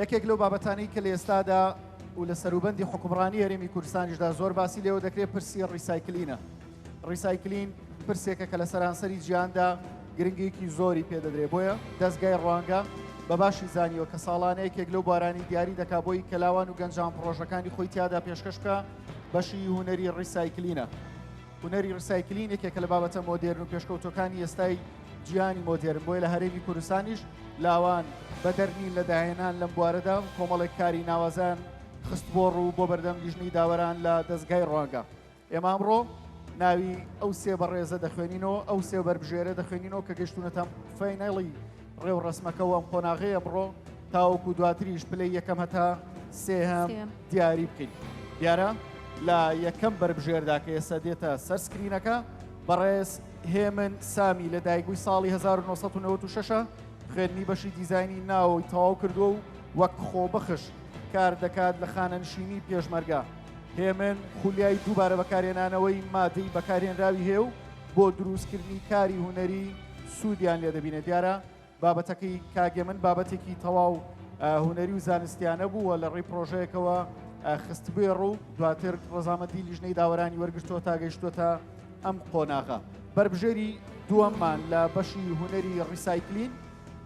یەکێک لەو بابەتانەی کە لە ئێستادا و لە سەروبەندی حکومڕانی هەرێمی کوردستانیشدا زۆر باسی لێوە دەکرێت پرسی ڕیسایکلینە ڕیسایکلین پرسێکە کە لە سەرانسەری جیاندا گرنگێکی زۆری پێدەدرێ بۆیە دەستگای ڕوانگە بە باشی زانیوە کە ساڵانە یەکێک لەو بارانی دیاری دەکا بۆی کەلاوان و گەنجان پرۆژەکانی خۆی تیادا پێشکەشکە بەشی هوەری ڕیسایکلینە هونەری ڕیسایکلین یەکێکە لە بابەتە مۆدێرن و پێشکەوتوەکانی ئێستای جیهانی مۆدێرن بۆیە لە هەرێمی کوردستانیش لاوان بەدەر نین لە داهێنان لەم بوارەدا و کۆمەڵێک کاری ناوازەیان خست بۆ ڕوو بۆ بەردەم لیژنەی داوەران لە دەستگای ڕوانگە ئێمە ئەمڕۆ ناوی ئەو سێ بەڕێزە دەخوێنینەوە ئەو سێ بەربژێرە دەخوێنینەوە کە گەشتونەتان فەینەڵی ڕێوڕەسمەکە و ئەم قۆناغەی ئەمڕۆ تاوەکو دواتریش پلەی یەکەم هەتا سێهەم دیاری بکەین دیارە لە یەکەم بەربژێردا کە ئێستا دێتە سەر سکرینەکە بەڕێز هێمن سامی لە دایگوی ساڵی 1996 خوێنی بەشی دیزایانی ناوەوەی تەواو کردووە و وەک خۆبەخش کار دەکات لە خانەنشینی پێشمەرگە هێمن خولیای دووبارە بەکارێنانەوەی مادەی بەکارێنراوی هەیە و بۆ دروستکردنی کاری هوەری سوودیان لێ دەبینێت دیارە بابەتەکەی کاک هێمن بابەتێکی تەواو هونەری و زانستیانە بوو و لە ڕێی پرۆژەیەکەوە خستبێ ڕوو دواتر ڕزامەتی لیژنەی داوەرانی وەرگشتووە تا گەیشتوتە ئەم قۆناغە بەربژێری دووەممان لە بەشی هونەری ڕیسایکلین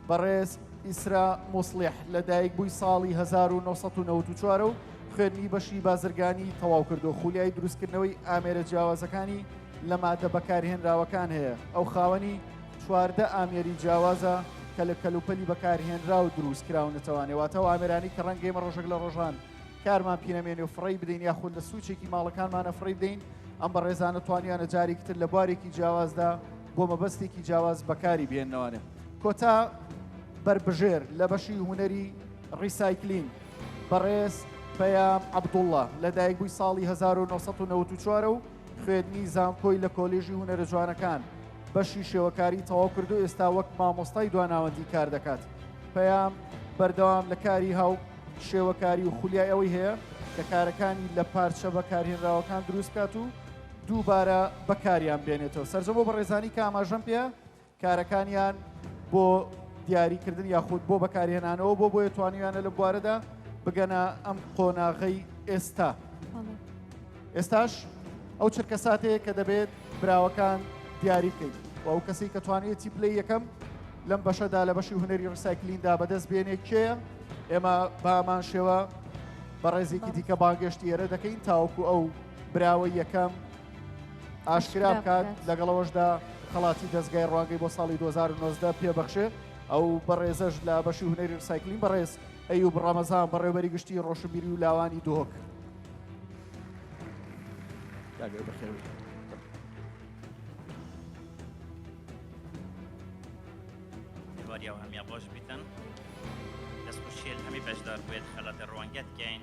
بەڕێز ئیسرا موسلح لە دایک بووی ساڵی 1994 و خوێنی بەشی بازرگانی تەواو کردو خولیای دروستکردنەوەی ئامێرە جیاوازەکانی لە ماددە بەکارهێنراوەکان هەیە، ئەو خاوەنی چواردە ئامێری جیاوازە کە لە کەلوپەلی بەکارهێنراو دروستکراون، دەتوانێت واتە ئەو ئامێرانەی کە ڕەنگە ئێمە ڕۆژێک لە ڕۆژان کارمان پی نەمێنێ و فڕێی بدەین یاخود لە سوچێکی ماڵەکانمانە فڕی بدەین، ئەم بەڕێزانە توانیانە جارێکی تر لە بوارێکی جیاوازدا بۆ مەبەستێکی جیاواز بەکاری بهێننەوانێ. کۆتا بەربژێر لە بەشی هونەری ڕیسایکلین بەڕێز پەیام عەبدوڵڵا لەدایکبووی ساڵی 1994ە و خوێندنی زانکۆی لە کۆلیژی هونەرەجوانەکان بەشی شێوەکاری تەواو کردو ئێستا وەک مامۆستای دواناوەندی کار دەکات پەیام بەردەوام لە کاری هاو شێوەکاری و خولیای ئەوەی هەیە کە کارەکانی لە پارچە بەکارهێنراوەکان دروستکات و دووبارە بەکاریان بێنێتەوە سەرجەم بۆ بەڕێزانی کە ئاماژەم پێ کارەکانیان بۆ دیاریکردن یاخود بۆ بەکارهێنانەوە بۆ بۆیە توانیویانە لە بوارەدا بگەنە ئەم قۆناغەی ئێستا ئێستاش ئەو چرکە ساتەیە کە دەبێت براوەکان دیاری بکەیت و ئەو کەسی کە توانێتی پلی یەکەم لەم بەشەدا لە بەشی هوەری ڕسایکلیندا بەدەست بێنێ کێ ئێمە بامان شێوە بە ڕێزێکی دیکە باگەشتی ئێرە دەکەین تاوەکو ئەو براوە یەکەم ئاشکرا بکات لەگەڵەوەشدا خەڵاتی دەستگای ڕوانگەی بۆ ساڵی 2009 پێبەخشێ ئەو بەڕێزەش لە بەشی هونەری سایکلین بەڕێز ئەو بڕامەزان بەڕێوەری گشتی ڕۆشنبیری و لاوانی دۆک هەمیان بۆش بیتن دەستخوشیل هەمی بەشدار بێت خەڵاتە ڕوانگەت کەین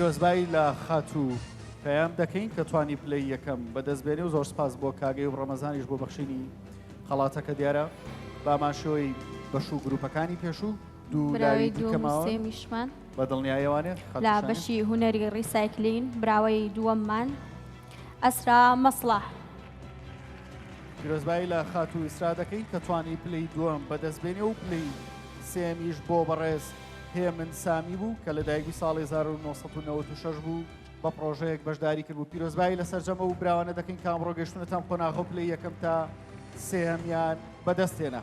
پیرۆزبایی لە خاتوو پەیام دەکەین کە توانی پلەی یەکەم بەدەستبێنێ و زۆر سپاس بۆ کاگەی و ڕەمەزانیش بۆ بەخشینی خەڵاتەکە دیارە بامانشەوەی بەش و گروپەکانی پێشوو دوو براوی لاوی دیکە دووەم و ماوە سێمیشمان لە بەشی هونەری ڕیسایکلین براوەی دووەممان ئەسرا مەسڵاح. پیرۆزبایی لە خاتوو ئیسرا دەکەین کە توانی پلەی دووەم بەدەستبێنێ و پلەی سێمیش بۆ بەڕێز هێمن سامی بوو کە لە دایکبووی ساڵی 1996 بوو بە پرۆژەیەک بەشداری کردبوو پیرۆزبایی لە سەرجەمە و براوانە دەکەین کە ئەمڕۆ گەشتونەتان قۆناغە و پلەی یەکەم تا سێهەمیان بەدەستێنا.